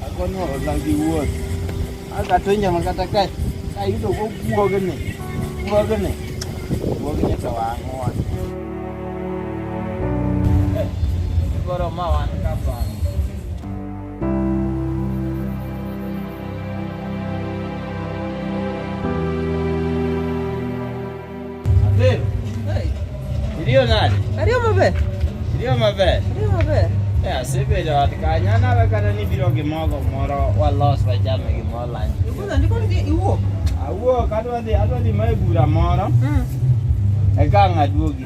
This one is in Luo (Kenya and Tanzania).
Akono lang di wuot. Aka to nyama kata ka ka yudo go guoge ne. Guoge ne. Guoge ne to wango wan. Goro ma wan ka pa. Iliyo nani? Iliyo mabe. Iliyo mabe. Iliyo mabe. Ya sibiri watikanya na bakana ni biro gimogo moro wa loss by jam gimoro lan. Ikuza ndiko ndi iwo. Awo kadwa ndi adwa ndi mai bura moro. Mm. Eka ngaduogi.